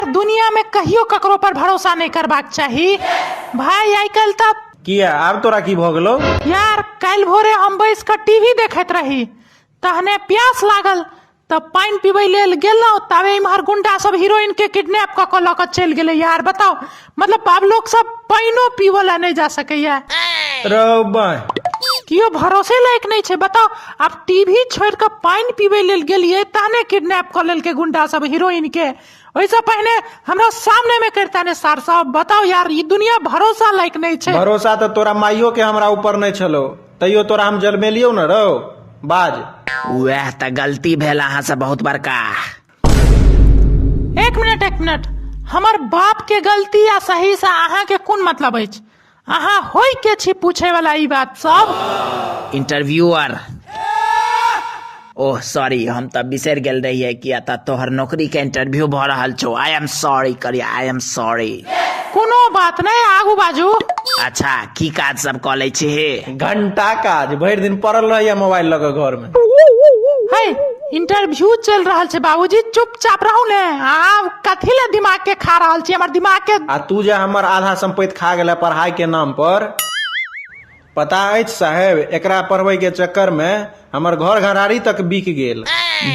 दुनियामे कहियो ककरो पर भरोसा नहि करबाक चाही भाय आइ काल्हि तऽ किया आब तोरा की भऽ गेलौ यार काल्हि भोरे हम बैस कऽ टीवी देखैत रही तहने प्यास लागल तऽ पानि पीबै लेल गेलहुँ ताबे इम्हर गुंडा सब हीरोइन के किडनैप कऽ कऽ लऽ कऽ चलि गेलै यार बताउ मतलब आब लोक सब पानिओ पीबऽ लए नहि जा सकैया रौ बाँय केओ भरोसे लायक नहि छै बताउ आब टीवी छोड़ि कऽ पानि पीबै लेल गेलियै तहने किडनैप कऽ लेलकै गुंडा सब हीरोइन के ओहिसँ पहिने हमरा सामने में करता ने सार साहब बताओ यार ई दुनिया भरोसा लायक नहीं छै भरोसा तो तोरा माइयो के हमरा ऊपर नहीं छलो तैयो तोरा हम जलमेलियो न रहो बाज वह तो गलती भेल अहाँ से बहुत बड़का एक मिनट एक मिनट हमर बाप के गलती आ सही से अहाँ के कोन मतलब अछि अहाँ होइ के छी पूछे वाला ई बात सब इंटरव्यूअर ओह सॉरी हम तऽ बिसरि गेल रहियै कि एतऽ तोहर नौकरी के इंटरव्यू भऽ रहल छौ आई एम सॉरी करी आई एम सॉरी कोनो बात नहि आगू बाजू अच्छा की काज सब कऽ लै छी घंटा काज भरि दिन पड़ल रहैया मोबाइल लऽ कऽ घर में है इंटरव्यू चल रहल छै बाबूजी चुपचाप रहू ने आब कथी ले दिमाग के खा रहल छी हमर दिमाग के आ तू जे हमर आधा संपत्ति खा गेला पढ़ाई के नाम पर पता अछि साहेब एकरा पढ़बै के चक्कर में हमर घर घरारी तक बिक गेल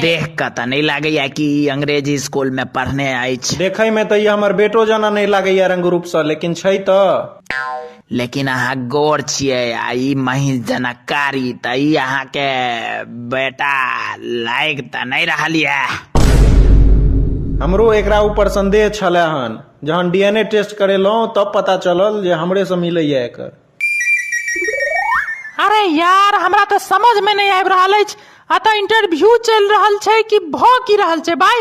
देख कऽ तऽ नहि लागैया कि ई अंग्रेजी स्कूल मे पढ़ने अछि देखै में तऽ ई हमर बेटो जना नहि लागैया रंग रूप से लेकिन छै तऽ लेकिन अहाँ गौर छियै आ ई महींस जनकारी तऽ ई अहाँके बेटा लागि तऽ नहि रहल यऽ हमरो एकरा ऊपर संदेह छलै हन जहन डीएनए टेस्ट करेलहुँ तब पता चलल जे हमरेसँ मिलैए एकर अरे यार हमरा तऽ समझ में नहीं आबि रहल अछि अतः इंटरव्यू चलि रहल छै कि भऽ की रहल छै भाई